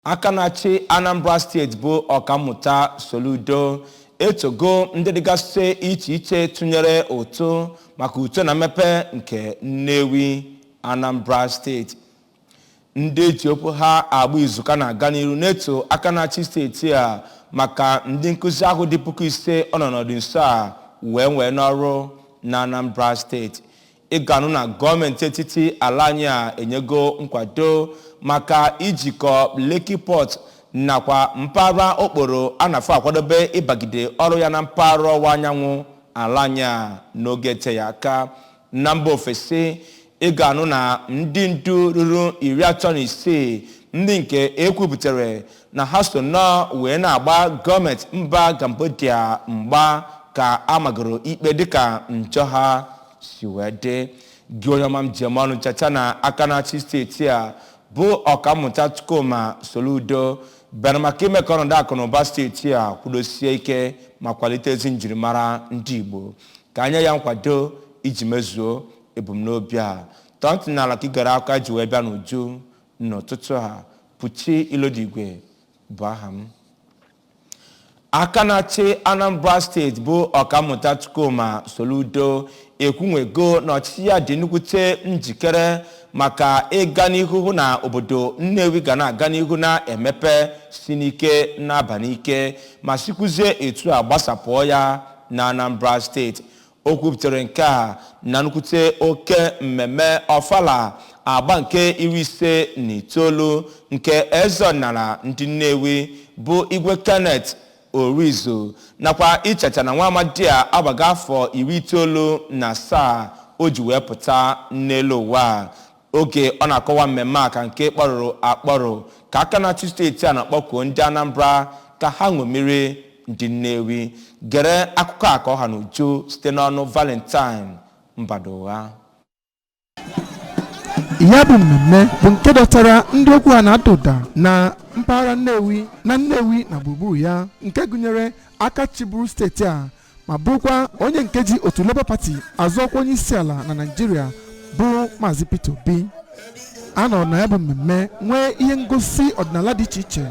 Aka na-achị Anambra steeti bụ Ọkammụta Soludo etogo ndị dịgasị iche iche tụnyere ụtụ maka uto na mmepe nke Nnewi, Anambra steeti. Ndị eji okwu ha agba izu ka na-aga n'iru na-eto aka na-achị steeti a maka ndị nkụzi ahụ dị puku ise ọ nọ n'ọdị nso a wee wee n'ọrụ na Anambra steeti. ị ga-anụ na gọọmenti etiti ala anyị a enyego nkwado maka ijikọ Lekki Port nakwa mpaghara okporo a na-afọ akwadobe ịbagide ọrụ ya na mpaghara ọwụwa anyanwụ ala anyị a n'oge eteghị aka na mba ofesi ị ga-anụ na ndị ndu ruru iri atọ na isii ndị nke ekwupụtara na ha so nnọọ wee na-agba gọọmenti mba Cambodia mgba ka a magoro ikpe dịka njọ ha si wee dị gị onye ọma m ji eme ọnụ cheta na aka na-achị steeti a bụ ọkammụta Chukwuma Soludo bịara maka ime ka ọnọdụ akụ na ụba steeti a kwudosie ike ma kwalite ezi njirimara ndị Igbo ka e nye ya nkwado iji mezuo ebumnobi a tọọ ntị n'ala ka i gere ha ka ha ji wee bịa n'uju n'ụtụtụ a buchi ilodigwe bụ aha m aka na-achị anambra steeti bụ ọkammụta chukwuma soludo ekwunwego na ọchịchị ya dị nnukwute njikere maka ịga n'ihu hụ na obodo nnewi ga na-aga n'ihu na-emepe si n'ike na-aba n'ike ma sikwuzie etu a gbasapụọ ya na anambra steeti O kwupụtara nke a na nnukwute oke mmemme Ọfala agba nke iri ise na itoolu nke eze ọdịnala ndị Nnewi bụ Igwe Kenneth Orizu nakwa icheta na nwa amadi a agbago afọ iri itoolu na asaa o ji wee pụta n'elu ụwa. Oge ọ na-akọwa mmemme a ka nke kpọrụrụ akpọrụ ka aka na-achị steeti a na-akpọkuo ndị Anambra ka ha ṅomiri ndị Nnewi. Gere akụkọ a ka ọ ha n'uju site n'ọnụ Valentine Mbadugha. ya bụ mmemme bụ nke dọtara ndị okwu ha na-ada ụda na mpaghara Nnewi na Nnewi na gburugburu ya nke gụnyere aka chịburu steeti a ma bụrụkwa onye nke ji otu Labour Party azụ ọkwa onye isi ala na Naịjirịa bụ Maazị Peter Obi a nọrọ na ya bụ mmemme nwee ihe ngosi ọdịnala dị iche iche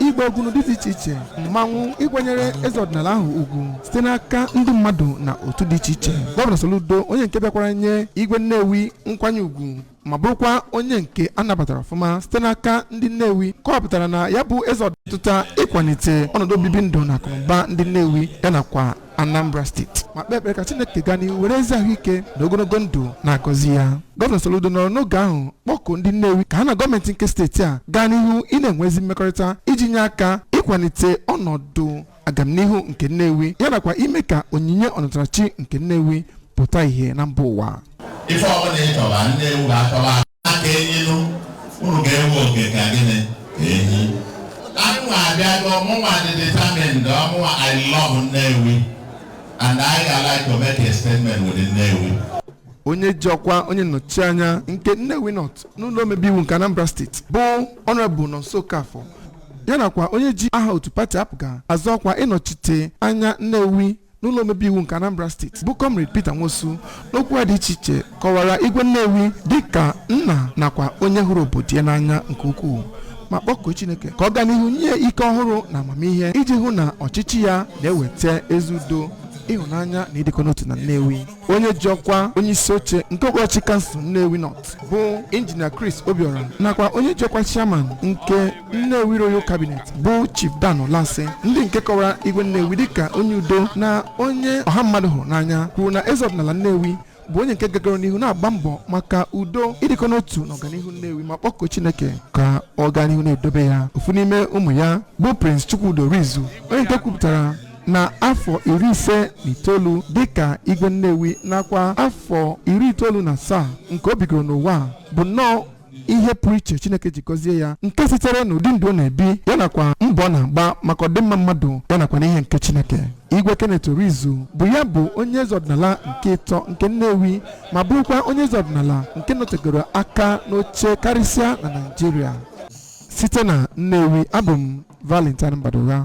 ịgba egwu n'ụdị dị iche iche mmanwụ ịkwanyere eze ọdịnala ahụ ugwu site n'aka ndị mmadụ na otu dị iche iche gọvanọ Soludo onye nke bịakwara nye igwe Nnewi nkwanye ugwu ma bụrụkwa onye nke a nabatara ọfụma site n'aka ndị Nnewi kọwapụtara na ya bụ eze ọdịtụta ịkwalite ọnọdụ obibi ndụ na akụnụba ndị Nnewi ya nakwa Anambra steeti ma kpee ekpere ka Chineke gaa n'ihu were ezi ahụike na ogologo ndụ na-agọzi ya gọvanọ Soludo nọrọ n'oge ahụ kpọkuo ndị Nnewi ka ha na gọọmenti nke steeti a gaa n'ihu ị na-enwe ezi mmekọrịta iji nye aka ịkwalite ọnọdụ agamnihu nke Nnewi ya nakwa ime ka onyinye ọnatarachi nke Nnewi pụta ihe na mba ụwa ife ọbụla ị chọba Nnewi ga-achọba aka enyinu unu ga-enwe oke ka gịnị ka enyi anụnwa abịago mụnwa dị determined ọmụnwa I love Nnewi and I ga like to make a statement with Nnewi onye ji ọkwa onye nnọchi anya nke Nnewi North n'ụlọ omebe iwu nke Anambra steeti bụ Honorable Nonso Okafor ya nakwa onye ji aha otu pati APGA azọ ọkwa ịnọchite anya Nnewi n'ụlọ omebe iwu nke Anambra steeti bụ Comrade Peter Nwosu n'okwu ha dị iche iche kọwara Igwe Nnewi dịka nna nakwa onye hụrụ obodo ya n'anya nke ukwuu ma kpọkuo Chineke ka ọ gaa n'ihu nye ya ike ọhụrụ na amamihe iji hụ na ọchịchị ya na-eweta ezi udo ịhụnanya na ịdịkọ n'otu na Nnewi onye ji ọkwa onye isi oche nke okpuru ọchịchị kansụl Nnewi North bụ injinia Chris Obiora nakwa onye ji ọkwa chairman nke Nnewi Royal Cabinet bụ Chief Dan Ulasi ndị nke kọwara igwe Nnewi dịka onye udo na onye ọha mmadụ hụrụ n'anya kwuru na eze ọdịnala Nnewi bụ onye nke gagoro n'ihu na-agba mbọ maka udo ịdịkọ n'otu na ọganihu Nnewi ma kpọkuo Chineke ka ọ gaa n'ihu na-edobe ya ofu n'ime ụmụ ya bụ Prince Chukwudi Orizu onye nke kwupụtara na afọ iri ise na itoolu dịka igwe nnewi nakwa afọ iri itoolu na asaa nke o bigoro n'ụwa a bụ nnọọ ihe pụrụ iche chineke ji gọzie ya nke sitere n'ụdị ndụ ọ na-ebi ya nakwa mbọ ọ na-agba maka ọdịmma mmadụ ya nakwa n'ihe nke chineke igwe kenneth orizu bụ ya bụ onye eze ọdịnala nke ịtọ nke nnewi ma bụrụkwa onye eze ọdịnala nke nọtegoro aka n'oche karịsịa na naịjirịa site na nnewi abụ m valentine mbadugha